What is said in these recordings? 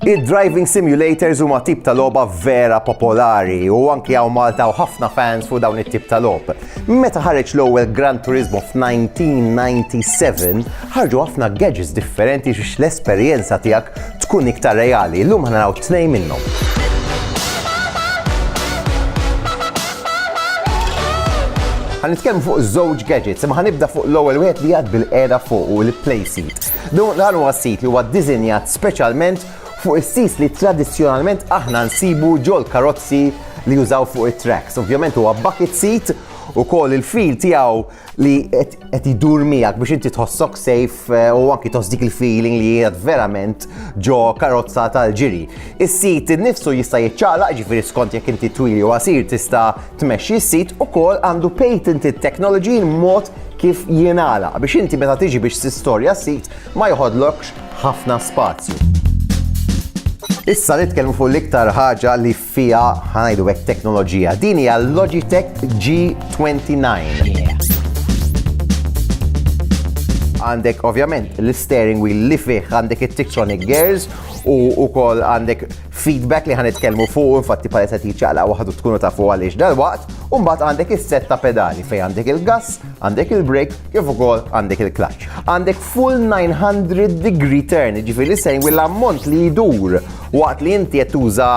Id-driving simulators huma tip ta' logħba vera popolari u anki hawn Malta u ħafna fans fuq dawn it-tip ta' logħb. Meta ħareġ l-ewwel Gran Turismo f'1997, ħarġu ħafna gadgets differenti biex l-esperjenza tiegħek tkun iktar reali. Llum ħanaraw tnejn minnhom. Għan nitkellmu fuq żewġ gadgets, imma ħanibda fuq l-ewwel wieħed li għad bil-qeda fuq u l-play seat. Dan huwa sit li huwa ddiżinjat speċjalment fuq is-sis li tradizzjonalment aħna nsibu ġol karozzi li jużaw fuq it-tracks. Ovvjament huwa bucket seat u koll il-fil tiegħu li qed idur miegħek biex inti tħossok safe eh, u anki tħoss dik il-feeling li qiegħed verament ġo karozza tal-ġiri. Is-sit innifsu jista' jiċċaqlaq ġifieri skont jekk inti twili u għasir tista' tmexxi s-sit ukoll għandu patented technology mod kif jingħala biex inti meta tiġi biex tistorja s-sit ma jħodlokx ħafna spazju. Issa nitkellmu fuq l-iktar ħaġa li fiha, ħa ngħidu hekk, teknoloġija. Din hija l-Logitech G29. Għandek ovvjament l-steering wheel li fih għandek it-Tiksonic gears u wkoll għandek feedback li ħanitkellmu fuq infatti paleta tiċċaqla waħdu tkunu tafu għaliex dal-waqt u mbagħad għandek is-set ta' pedali fejn għandek il-gas, għandek il-brake kif ukoll għandek il-clutch. Għandek full 900 degree turn, ġifieri sejn l-ammont li jdur Waqt li inti qed tuża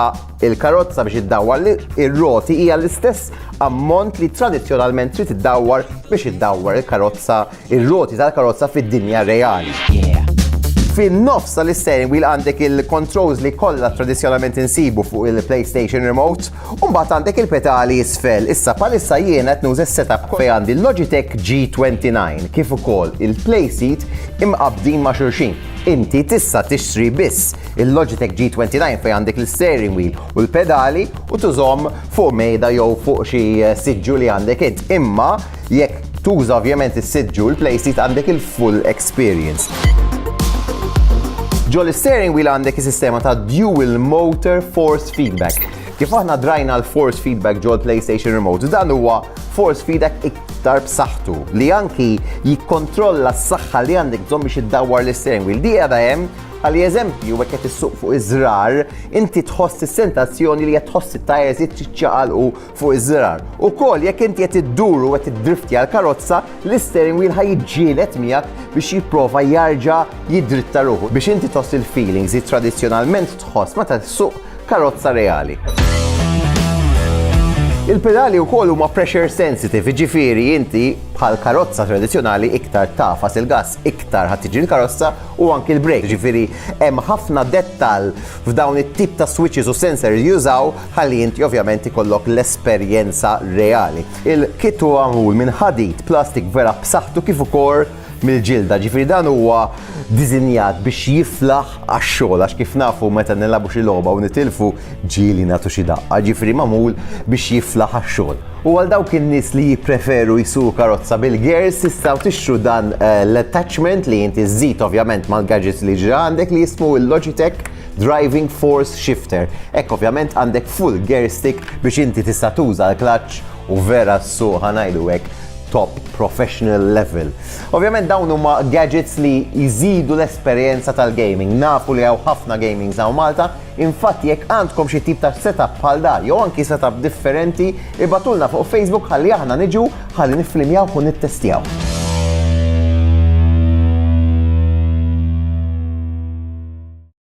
l-karozza biex iddawwar ir-roti hija l-istess ammont li tradizzjonalment trid iddawwar biex iddawwar il-karozza ir-roti tal-karozza fid-dinja reali. Fin-nofs tal-isteering wheel għandek il-controls li kollha tradizzjonalment insibu fuq il-PlayStation Remote, u mbagħad għandek il-petali isfel. Issa bħalissa jiena qed nuża s-setup fej għandi l-Logitech G29 kif ukoll il-PlaySeat imqabbdin ma' xulxin. Inti tista' tixtri biss Il-Logitech G29 fejn għandek l-steering wheel u l-pedali u tużhom fuq mejda jew fuq xi siġġu li għandek int. Imma jekk tuża ovvjament is-siġġu l-play seat għandek il-full experience. Ġo l-steering wheel għandek is-sistema ta' dual motor force feedback. Kif aħna drajna l-force feedback ġo l-PlayStation Remote, dan huwa force feedback iktar b'saħħtu li anki jikkontrolla s-saħħa li għandek bżonn biex iddawwar l-steering wheel. Di għadha hemm Bħali eżempju, jekk qed issuq fuq iż-żrar, inti tħoss is-sentazzjoni li qed tħoss it-tajers jiċċaqalqu fuq iż-żrar. Ukoll jekk inti qed iddur u qed iddriftja l-karozza, l-isteering wheel ħa jiġġieled miegħek biex jipprova jarġa' jiddritta ruħu biex inti tħoss il-feelings li tradizzjonalment tħoss meta ssuq karozza reali. Il-pedali u koll huma pressure sensitive, ġifiri inti bħal karozza tradizjonali iktar tafas il-gas iktar ħa tiġi l-karozza u anki l-brejk. Jiġifieri hemm ħafna dettall f'dawn it-tip ta' switches u sensors li jużaw ħalli inti ovvjament ikollok l-esperjenza reali. Il-kit huwa magħmul minn ħadid, plastik vera b'saħħtu kif ukoll mill-ġilda, jiġifieri dan huwa diżinjat biex jiflaħ għax-xogħol għax kif nafu meta nilagħbu xi logħba u nitilfu ġieli nagħtu xi daqqa, ġifieri magħmul biex jiflaħ għax-xogħol. U għal dawk in-nies li jippreferu jsuqu karozza bil-gears tistgħu tixtru dan eh, l-attachment li inti żżid ovvjament mal-gadgets li ġra għandek li jismu il-Logitech Driving Force Shifter. Hekk ovvjament għandek full gear stick biex inti tista' tuża l-klaċċ u vera s-suq ħanajdu hekk top professional level. Ovvjament dawn huma gadgets li jżidu l-esperjenza tal-gaming. Nafu li hawn ħafna gamings hawn Malta, infatt jekk għandkom xi tip ta' setup bħal dan jew anki setup differenti, ibgħatulna fuq Facebook ħalli aħna niġu ħalli nifflimjawh u nittestjaw.